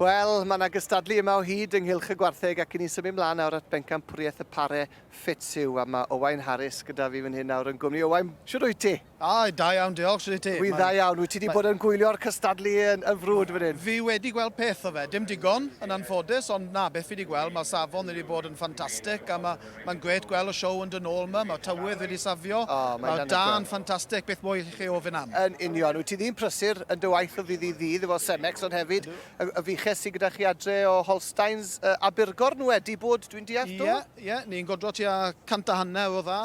Wel, mae yna gystadlu yma o hyd ynghylch y gwartheg ac i ni symud mlaen nawr at bencampwriaeth y pare Fetsu a mae Owain Harris gyda fi fan hyn nawr yn gwmni. Owain, shwt wyt ti? A, da iawn, diolch, shwt wyt ti? Dwi'n dda iawn, wyt ti wedi bod yn gwylio'r cystadlu yn frwd fan hyn? Fi wedi gweld peth o fe, dim digon yn anffodus ond na, beth fi wedi gweld, mae'r safon wedi bod yn ffantastig a mae Mae'n grêt gweld y sioe yn dod nôl 'ma, mae'r tywydd wedi safio, mae'r dân yn ffantastig, beth mwy allwch chi ofyn am? Yn union, wyt ti ddyn prysur yn dy waith o ddydd i ddydd efo Cemex ond hefyd y fuches sy gyda chi adre o Holsteins Abergorn wedi bod dwi'n deall do? Ie, ie, ni'n godro tua cant a hanner o dda.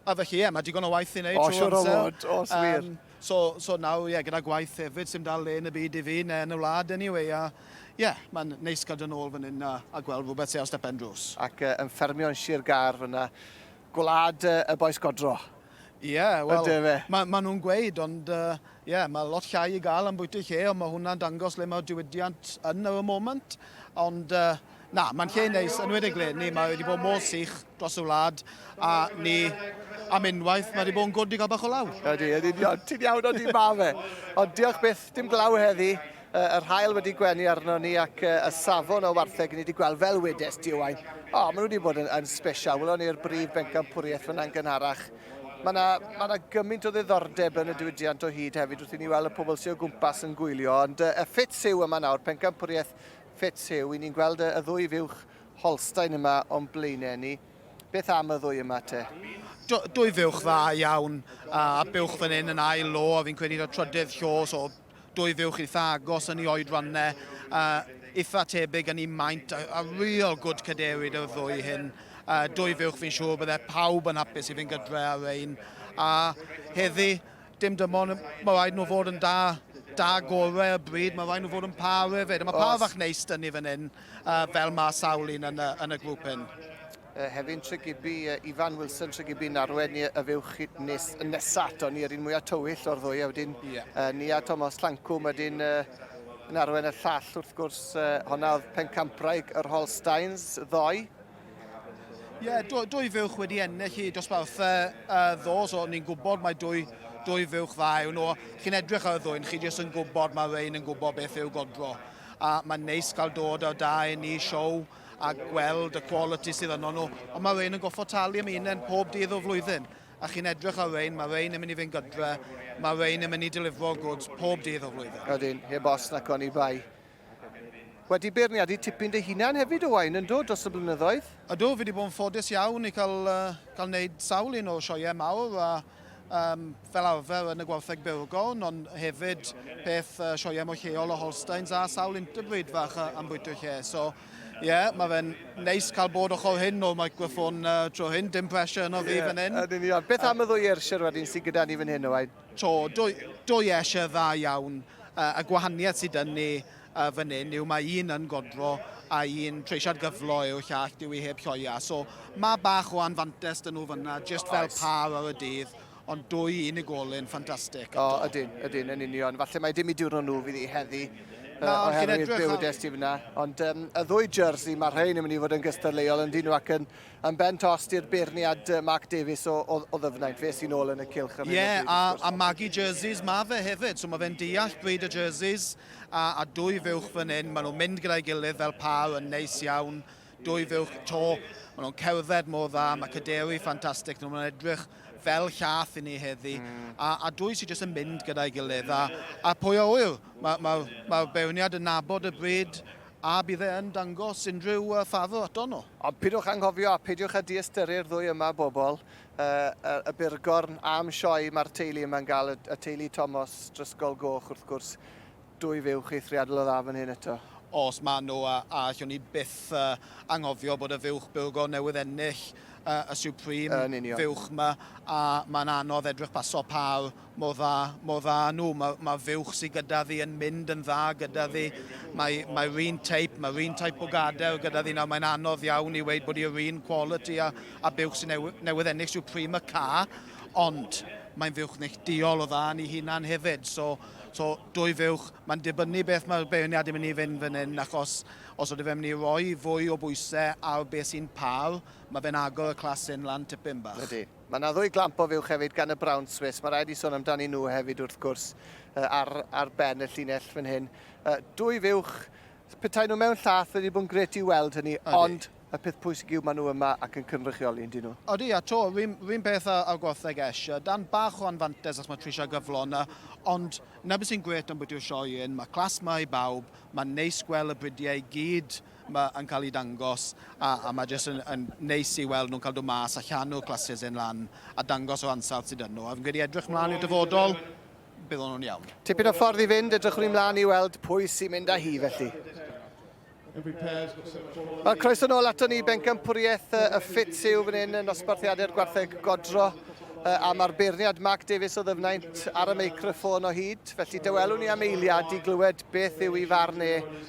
A felly, ie, mae digon o waith i wneud trwy amser. O, siwr o fod, os wir. Um, so, so nawr, ie, yeah, gyda gwaith hefyd, sy'n dal le yn y byd i fi, neu yn y wlad, anyway, a ie, yeah, mae'n neis cael dyn ôl fan hyn a, a gweld rhywbeth sy'n ar stepen drws. Ac uh, yn ffermio yn Sir Gar fyna, gwlad uh, y boes godro. Ie, yeah, wel, mae ma nhw'n gweud, ond ie, uh, yeah, mae lot llai i gael am bwyty lle, ond mae hwnna'n dangos le mae'r diwydiant yn ar y moment. Ond, uh, Na, mae'n lle neis, yn wedi le ni, mae wedi bod mor sych dros y wlad, a ni am unwaith, mae wedi bod yn gwrdd i gael bach o law. Ydy, ydy, ydy, ti'n iawn o di ma fe. Ond diolch byth, dim glaw heddi, yr hael wedi gwenu arno ni ac y safon o wartheg ni wedi gweld fel wedes di Owain. O, maen nhw wedi bod yn, yn special, welon ni'r brif bencampwriaeth fyna'n gynharach. Mae yna, mae yna gymaint o ddiddordeb yn y diwydiant o hyd hefyd wrth i ni weld y pobl sy'n o gwmpas yn gwylio, ond y ffit syw yma nawr, pencampwriaeth Fetz Huw, i ni'n gweld y ddwy fuwch Holstein yma o'n blaenau ni. Beth am y ddwy yma te? Dwy fuwch dda iawn, a buwch fan hyn yn ail lo, a fi'n credu da trydydd llo, so dwy fuwch eitha agos yn ei oedrannau, eitha tebyg yn ei maint, a real good cadewyd y ddwy hyn. Dwy fuwch fi'n siŵr bydde pawb yn hapus i fynd gydre ar ein. A heddi, Dim dim ond, mae rhaid nhw fod yn da, da gorau y bryd, mae rhaid nhw fod yn pâr hefyd, a mae pâr fach neis dyn ni fan hyn, fel mae sawl un yn y, yn y grŵp hyn. Uh, Hefin Tregibi, uh, Ifan Wilson Tregibi Narwen ni y fywch chi nes, nesa ato ni yr un mwyaf tywyll o'r ddwy a wedyn yeah. uh, ni a Thomas Llancwm wedyn uh, Narwen y llall wrth gwrs uh, honna oedd Pencampwraig yr Holsteins ddoe Ie, yeah, dwy, dwy fuwch wedi ennill i dosbarthau uh, ddo, so ni'n gwybod mae dwy, dwy fuwch dda yw nhw. Chi'n edrych ar y ddwy'n, chi jyst yn gwybod mae Rein yn gwybod beth yw godro. A mae'n neis cael dod ar da i ni siow a gweld y quality sydd yno nhw. Ond mae Rein yn goffo talu am un pob dydd o'r flwyddyn. A chi'n edrych ar Rein, mae Rein yn mynd i fynd gydre, mae Rein yn mynd i delifro goods pob dydd o'r flwyddyn. Ydyn, heb os nac oni bai. Wedi beirniadu tipyn dy hunan hefyd Owain, yndw, dros y blynyddoedd? Ydw, fi wedi bod yn ffodus iawn i cael cael wneud sawl un o sioeau mawr a um, fel arfer yn y gwartheg Burgorn, ond hefyd peth uh, sioeau mwy lleol o Holsteins a sawl interbreed fach am bwyta lle. So, ie, yeah, mae fe'n neis cael bod ochr hyn o'r microffon uh, tro hyn, dim pressure yno fi yeah, fan hyn. Yn union. Beth am y ddwy ersir wedyn sy'n gyda ni fan hyn, Owain? To, do, do ieshe, dda iawn. Yy, y gwahaniaeth sy dyn ni yy fan hyn yw mae un yn godro a un treisiad gyflo yw'r llall, dyw hi heb lloia. So, ma' bach o anfantes dyn nhw fan'na, jyst fel Oes. pâr ar y dydd, ond dwy unigolyn ffantastig eto. O, ydyn, ydyn, yn union. Falle mai dim eu diwrnod nhw fydd hi heddi yy Na, ond chi'n oherwydd edrych ar- byw y dest ti fan'na. Ond yym, y ddwy jersey, ma' rhein yn mynd i fod yn gystadleuol yndyn nhw ac yn Yn ben tost i'r beirniad yy Mark Davies o, o, o Ddyfnaint, fe sy'n ôl yn y cylch ar hyn o Ie, bryd, a, wrth gwrs. a magu jerseys ma' fe hefyd, so ma' fe'n deall dweud y jerseys, a, a dwy fuwch fan hyn, maen nhw'n mynd gyda'i gilydd fel pâr yn neis iawn, dwy fuwch to, maen nhw'n cerdded mor dda, mae caderi ffantastig nhw, maen nhw'n edrych fel llath i ni heddi, a, a dwy sydd jyst yn mynd gyda'i gilydd, a, a pwy a ŵyr, mae'r ma, ma, ma beirniad yn nabod y bryd, A bydd e yn dangos unrhyw ffafr aton nhw? Ond peidiwch anghofio a peidiwch â diystyru'r ddwy yma bobl, y burgorn a'm sioe mae'r teulu yma'n gael, y teulu Tomos Drysgol Goch wrth gwrs, dwy fuwch eithriadol o dda fan hyn eto. Os maen nhw, a allwn ni byth anghofio bod y fuwch burgorn newydd ennill y Supreme fuwch 'ma, a mae'n anodd edrych pasio pâr Mor dda, mor dda â nhw. Mae'r ma fuwch sydd gyda fi yn mynd yn dda gyda fi. Mae, mae'r un teip, mae'r un teip o gader gyda fi nawr. Mae'n anodd iawn i weid bod i'r un quality a, a buwch sy'n new, newydd ennill yw Prima Ca, ond mae'n fuwch neillduol o dda yn ei hunan hefyd. So, so dwy fuwch, mae'n dibynnu beth mae'r beirniad yn mynd i fynd fan hyn, achos os oedden fe'n mynd i roi fwy o bwysau ar beth sy'n par, mae fe'n agor y clas hyn lan tipyn bach. Ydy. Mae yna ddwy glamp o fuwch hefyd gan y Brown Swiss. Mae rhaid i sôn amdani nhw hefyd wrth gwrs ar, ar ben y llinell fan hyn. Dwy fuwch, petai nhw mewn llath wedi bod yn gret i weld hynny, ond y peth pwysig yw maen nhw yma ac yn cynrychioli yn dyn nhw. Odi, a to, rhywun peth a, a gwartheg esh, dan bach o anfantes os mae Trisha gyflon, ond na beth sy'n gret am bwytio sioe yn, mae clas ma i bawb, mae'n neis gweld y bridiau i gyd ma yn cael eu dangos a a ma jyst yn yn neis i weld nhw'n cael dod mas a llanw classes hyn lan a dangos yr ansawdd sydd yn nhw a fi'n credu edrych mlaen i'r dyfodol bydd o'n nhw'n iawn. Tipyn o ffordd i fynd, edrychwn ni mlaen i weld pwy sy'n mynd â hi felly. Wel, croeso nôl ato ni, bencampwriaeth y ffit yw fan hyn yn nosbarthiadau'r gwartheg godro a mae'r beirniad Mark Davies o ddyfnaint ar y meicroffôn o hyd, felly dywelwn ni am eiliad i glywed beth yw i farn e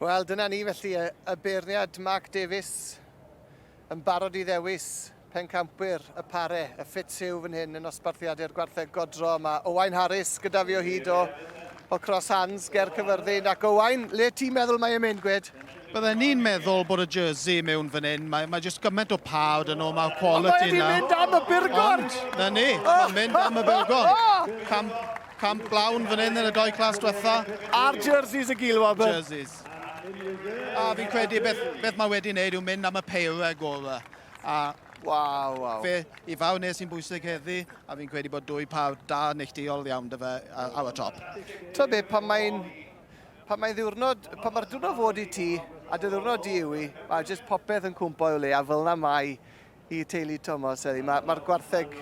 Wel, dyna ni felly, y, y beirniad Mark Davies yn barod i ddewis pencampwyr y pare, y ffit siw fan hyn yn osbarthiadu'r gwartheg godro. Mae Owain Harris gyda fi o hyd o, o Cross Hands, ger Cyfyrddin. Ac Owain, le ti'n meddwl mae e'n mynd, gwed? Byddai ni'n meddwl bod y jersey mewn fan hyn. Mae, mae jyst gymaint o pawb dyn nhw, mae'r quality yna. Mae wedi mynd am y burgon! Na ni, mae'n mynd am y burgon. Cam, Camp glawn fan hyn yn y doi clas diwetha. A'r jerseys y gil, Wabber. Jerseys. A fi'n credu beth, beth mae wedi wneud yw mynd am y peirau gorau. A Waw, waw. Fe, i fawr nes sy'n bwysig heddi, a fi'n credu bod dwy pawb da neilltuol iawn dy fe ar y top. Ta be, pan mae'n pan mae ddiwrnod, pan mae'r diwrnod fod i ti, a dy ddiwrnod di yw i, mae jyst popeth yn cwmpo i'w le, a fel na mae I teulu Tomos heddi, mae'r ma gwartheg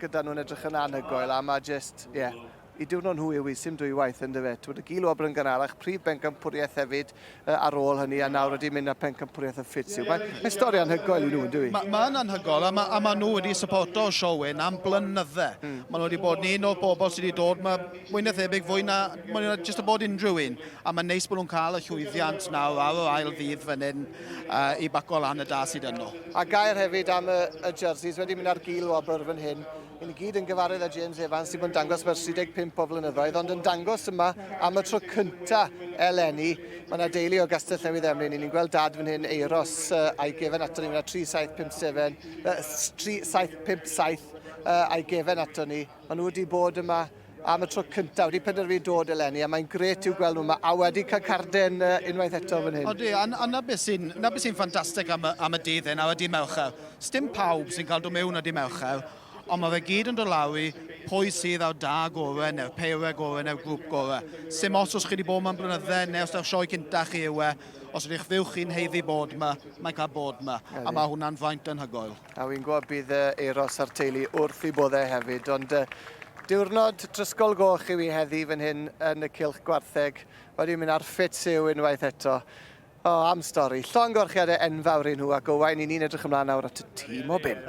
gyda nhw'n edrych yn anhygoel a mae jyst, ie, yeah, i diwrno nhw yw i sim dwy waith yn dyfe. Twyd y gil wobr yn gynharach, prif bencampwriaeth hefyd uh, ar ôl hynny a nawr ydy'n mynd â pencampwriaeth y ffit yw. Mae, mae stori anhygoel i nhw, yn dwi? Mae'n ma anhygoel a mae, a mae nhw wedi supporto Siowyn am blynydde. Mm. Mae nhw wedi bod ni un o'r bobl sydd wedi dod, mae mwy na thebyg fwy na, mwy na jyst y bod unrhyw un. A mae'n neis bod nhw'n cael y llwyddiant nawr ar yr ail ddydd fan hyn. uh, i baco lan y da sydd yno. A gair hefyd am y, y jerseys wedi mynd ar gil wobr fan hyn. I ni gyd yn gyfarwydd â James Evans sydd yn dangos mae'r 35 o flynyddoedd, ond yn dangos yma am y tro cynta eleni. Mae yna deulu o Gastell Newydd Emlyn, ni'n gweld dad fan hyn eiros uh, a'i gefen ato ni, mae yna 3757, uh, 3757 uh, a'i gefen ato ni. Maen nhw wedi bod yma am y tro cyntaf, wedi penderfynu dod eleni, a mae'n gret i'w gweld nhw yma, a wedi cael carden uh, unwaith eto fan hyn. Odi, a, a na beth sy'n sy ffantastig am, am y dydd hyn, a y dydd Mercher. Sdim pawb sy'n cael dod mewn y dydd Mercher, ond mae fe gyd yn dod lawr i pwy sydd â'r da gorau neu'r peirau gorau neu'r grŵp gorau. Sim os os chi wedi bod yma'n blynydde neu os yw'r sioe cynta chi yw e, os ydych fyw chi'n heiddi bod yma, mae'n cael bod yma, a mae hwnna'n faint yn hygoel. A wi'n gwybod bydd yy Euros a'r teulu wrth i bodde hefyd, ond yy diwrnod trysgol goch yw hi heddi fan hyn yn y cylch gwartheg. Wedi mynd ar ffit yw unwaith eto. O, am stori. Llon gorchiade enfawr i nhw ac Owain, i ni'n edrych ymlaen nawr at y tîm o bump.